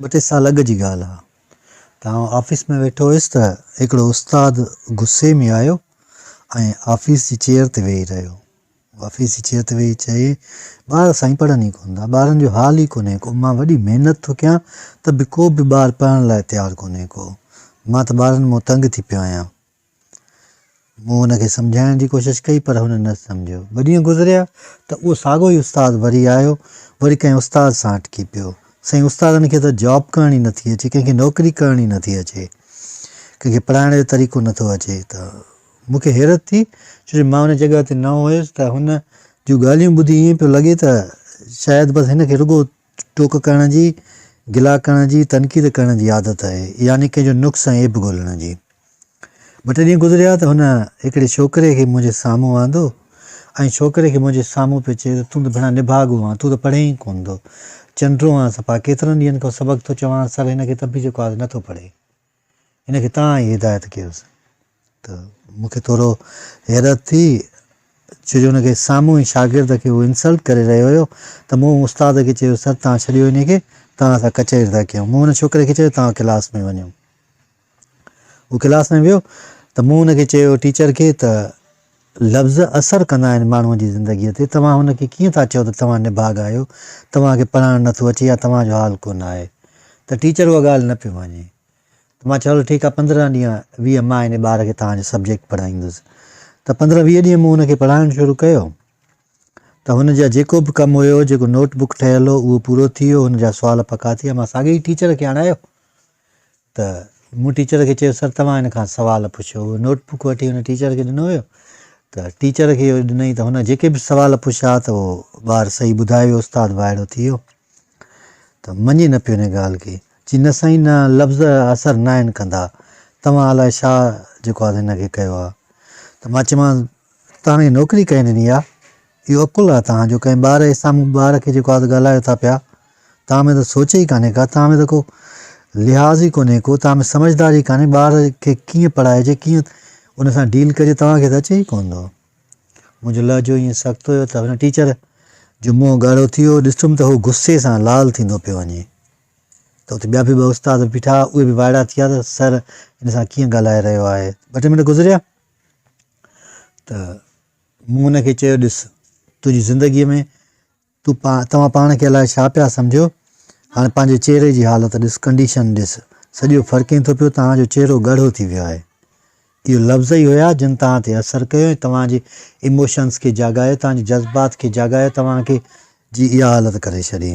ٻه ٽي سال اڳ جي ڳالهه آهي ته آئون آفيس ۾ ويٺو هيس ته هڪڙو استاد غصي ۾ آيو ۽ آفيس جي چيئر تي ويهي رهيو. آفيس جي چيئر تي ويهي چيائين، ٻار سائين پڙهن ئي ڪونه ٿا، ٻارن جو حال ئي ڪونهي ڪو، مان وڏي محنت ٿو ڪيان ته به ڪو به ٻار پڙهڻ لاء تيار ڪونهي ڪو، مان ته ٻارن مون تنگ ٿي پيو آهيان. مون هن کي سمجهائڻ جي ڪوشش ڪئي پر هن نه سمجهيو. ٻه ڏينهن گذريا ته اهو ساڳيو ئي استاد وري آيو، وري ڪنهن استاد سان اٽڪي پيو. سائين استادن کي ته جاب ڪرڻي نه ٿي اچي، ڪنهن کي نوڪري ڪرڻي نه ٿي اچي، ڪنهن کي پڙهائڻ جو طريقو نه ٿو اچي ته مون کي حيرت ٿي ڇو جو مان ان جڳهه تي نئون هيس ته هن جون ڳالهيون ٻڌي ائين پيو لڳي ته شايد بس هن کي رڳو ٽوڪ ڪرڻ جي، گلا ڪرڻ جي، تنقيد ڪرڻ جي عادت آهي، يعني ڪنهن جو نقص ۽ عيب ڳولڻ جي. ٻه ٽي ڏينهن گذريا ته هن هڪڙي ڇوڪري کي منهنجي سامهون آندو ۽ ڇوڪري کي منهنجي سامهون پيو چئي ته تون ته ڀيڻا نڀاڳو آن، تون ته پڙهين ئي ڪونه ٿو، چنڊرو آن، صفا ڪيترن ڏينهن کان سبق ٿو چوانس سر هن کي ته به جيڪو آهي نه ٿو پڙهي. هن کي تان ئي هدايت ڪيس ته مون کي ٿورو حيرت ٿي ڇو جو هن کي سامهون ئي شاگرد کي هو انسلٽ ڪري رهيو هيو ته مون استاد کي چيو سر تان ڇڏيو هن کي تان اسان ڪچهري ٿا ڪيون مون هن ڇوڪري کي چيو تان ڪلاس ۾ وڃو هو ڪلاس ۾ ويو ته مون هن کي چيو ٽيچر کي ته لفظ اثر ڪندا آهن ماڻهوء جي زندگيء تي، توهان هن کي ڪيئن ٿا چئو ته توهان نڀاڳ آهيو، توهان کي پڙهائڻ نه ٿو اچي يا توهان جو حال ڪونه آهي ته ٽيچر اها ڳالهه نه پئي مڃي ته مان چيو هلو ٺيڪ آهي پندرهن ڏينهن ويهه مان هن ٻار کي توهان جو سبجيڪٽ پڙهائيندس ته پندرهن ويهه ڏينهن مون هن کي پڙهائڻ شروع ڪيو ته هن جا جيڪو به ڪم هيو جيڪو نوٽ بڪ ٺهيل هو اهو پورو ٿي ويو هن جا سوال پڪا ٿي ويا مان ساڳي ئي ٽيچر کي آڻايو ته مون ٽيچر کي چيو سر توهان هن کان سوال پڇيو اهو نوٽ بڪ وٺي هن ٽيچر کي ڏنو ويو ته ٽيچر کي اهو ڏنائين ته هن جيڪي به سوال پڇيا ته اهو ٻار صحيح ٻڌائي ويو استاد وائڙو ٿي ويو ته مڃي نه پيو ان ڳالهه کي چي نه سائين نه لفظ اثر ناهن ڪندا توهان الاء ڇا جيڪو آهي هن کي ڪيو آهي ته مان چيمانس توهان هي نوڪري ڪنهن ڏني آ؟ اهو عقل آ توهان جو ڪنهن ٻار جي سامهون ٻار کي جيڪو آ ڳالهايو ٿا پيا. توهان ۾ ته سوچ ئي ڪانهي ڪا توهان ۾ ته ڪو لحاظ ئي ڪونهي ڪو توهان ۾ سمجهدار ئي ڪانهي ٻار کي ڪيئن پڙهائجي ڪيئن ان سان ڊيل ڪجي توهان کي ته اچي ئي ڪونه ٿو. منهنجو لهجو ائين سخت هيو ته هن ٽيچر جو منهن ڳاڙهو ٿي ويو ڏسم ته هو غصي سان لال ٿيندو پيو وڃي ته اتي ٻيا به ٻه استاد بيٺا اهي به وائڙا ٿي ويا ته سر هن سان ڪيئن ڳالهائي رهيو آهي ٻه ٽي منٽ گذريا ته مون ان کي چيو، ڏس، تنهنجي زندگيء ۾ تون پا، توهان پاڻ کي الائي ڇا پيا سمجهو، هاڻي پنهنجي چهري جي حالت ڏس، ڪنڊيشن ڏس، سڄو فرقين ٿو پيو، توهان جو چهرو ڳاڙهو ٿي ويو آهي. اهي لفظ ئي هيا جن توهان تي اثر ڪيو ۽ توهان جي ايموشنز کي جاڳايو، توهان جي جذبات کي جاڳايو، توهان کي جي اها حالت ڪري ڇڏي.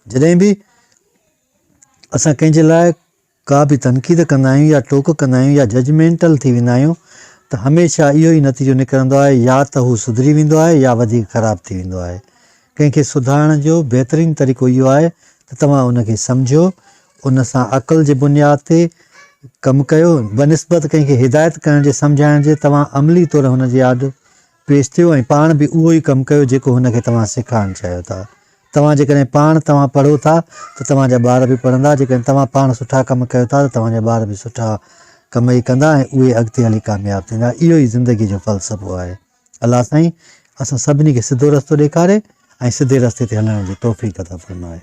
جڏهن به اسان ڪنهن جي لاء. ڪا به تنقيد ڪندا آهيون يا ٽوڪ ڪندا آهيون يا ججمينٽل ٿي ويندا آهيون ته هميشه اهو ئي نتيجو نڪرندو آهي يا ته هو سڌري ويندو آهي يا وڌيڪ خراب ٿي ويندو آهي. ڪنهن کي سڌارڻ جو بهترين طريقو اهو آهي ته توهان ان کي سمجهو، ان سان عقل جي بنياد تي ڪم ڪيو، بنسبت ڪنهن کي هدايت ڪرڻ جي سمجهائڻ جي توهان عملي طور هن جي آڏو پيش ٿيو ۽ پاڻ به اهو ئي ڪم ڪيو جيڪو هن کي توهان سيکارڻ چاهيو ٿا. توهان جيڪڏهن پاڻ توهان پڙهو ٿا ته توهان جا ٻار به پڙهندا، جيڪڏهن توهان پاڻ سٺا ڪم ڪيو ٿا ته توهان جا ٻار به سٺا ڪم ئي ڪندا ۽ اهي اڳتي هلي ڪامياب ٿيندا. اهو ئي زندگيء جو فلسفو آهي. الله سائين اسان سڀني کي سڌو رستو ڏيکاري ۽ سڌي رستي تي هلڻ جي توفيق عطا فرمائي.